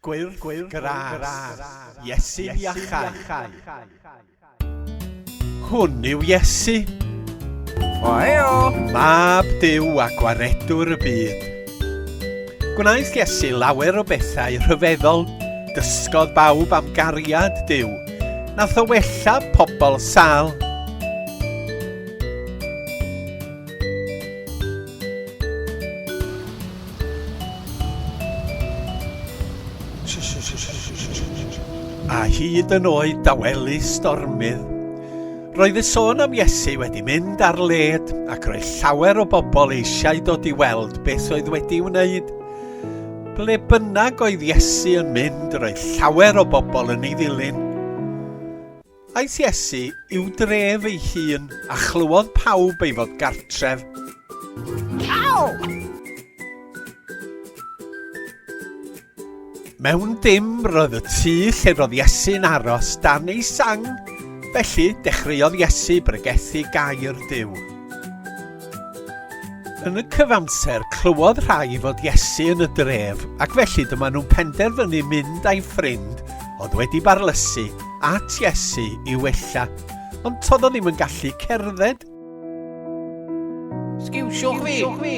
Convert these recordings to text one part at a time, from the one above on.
Gwyrdd gras, Iesu'n iachau. Hwn yw Iesu. O heo! Mab Duw a Gwaredwr y byd. Gwnaeth Iesu lawer o bethau rhyfeddol, dysgodd bawb am gariad Duw, nath o wella pobl sal, A hyd yn oed dawelu stormydd. Roedd y sôn am Iesu wedi mynd ar led ac roedd llawer o bobl eisiau dod i weld beth oedd wedi ei wneud. Ble bynnag oedd Iesu yn mynd, roedd llawer o bobl yn ei ddilyn. Aeth Iesu i'w dref ei hun, a chlywodd pawb ei fod gartref. Mewn dim roedd y tŷ lle roedd Iesu'n aros dan ei sang, felly dechreuodd Iesu bregethu gair Duw. Yn y cyfamser, clywodd rhai fod Iesu yn y dref, ac felly dyma nhw'n penderfynu mynd â'i ffrind oedd wedi barlysu at Iesu i wella, ond todd o ddim yn gallu cerdded. Sgiwsiwch fi!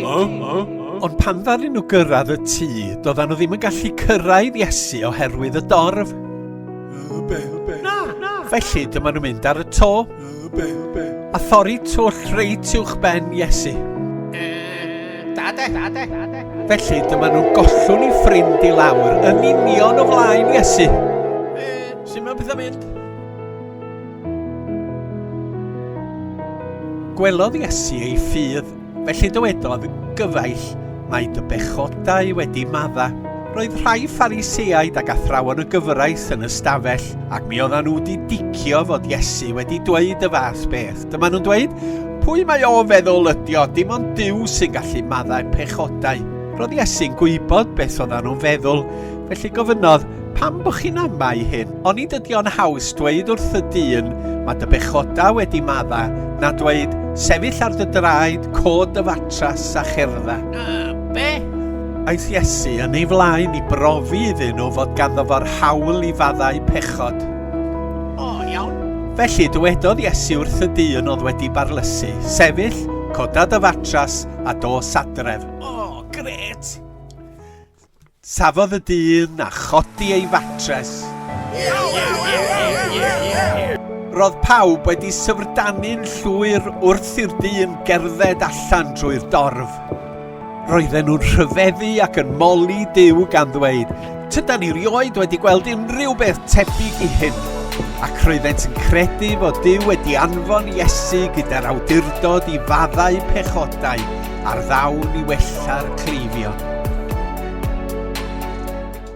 Ond pan ddaru nhw gyrraedd y tŷ, doedden nhw ddim yn gallu cyrraedd Iesu oherwydd y dorf. Felly dyma nhw'n mynd ar y to. A thorri twll reit uwch ben Iesu. Dade, dade, dade. Felly dyma nhw gollwn i ffrind i lawr yn union o flaen Iesu. Sut mae pethau mynd? Gwelodd Iesu ei ffydd Felly dywedodd gyfaill, Mae dy bechodau wedi madda. Roedd rhai Phariseaid ac athrawon y gyfraith yn y stafell, ac mi oeddan nhw wedi dicio fod Iesu wedi dweud y fath beth. Dyma nhw'n dweud, Pwy mae o feddwl ydio, dim ond Duw sy'n gallu maddau pechodau. Roedd Iesu'n gwybod beth oeddan nhw'n feddwl, felly gofynnodd, Pam bo chi'n amau hyn? Onid ydi o'n haws dweud wrth y dyn ma dy bechoda wedi madda na dweud sefyll ar dy draed, cod dy fatras a cherdda? A be? Aeth Iesu yn ei flaen i brofi iddyn nhw fod ganddo fo'r hawl i faddau pechod. O, iawn. Felly dywedodd Iesu wrth y dyn oedd wedi barlysu, sefyll, coda dy fatras a dos adref. O, gret! Safodd y dyn a chodi ei fatres. Roedd pawb wedi syfrdanu'n llwyr wrth i'r dyn gerdded allan drwy'r dorf. Roedden nhw'n rhyfeddu ac yn moli Duw gan ddweud, Tydan ni rioed wedi gweld unrhyw beth tebyg i hyn. Ac roeddent yn credu fod Duw wedi anfon Iesu gyda'r awdurdod i faddau pechodau Ar ddawn i wella'r cleifion.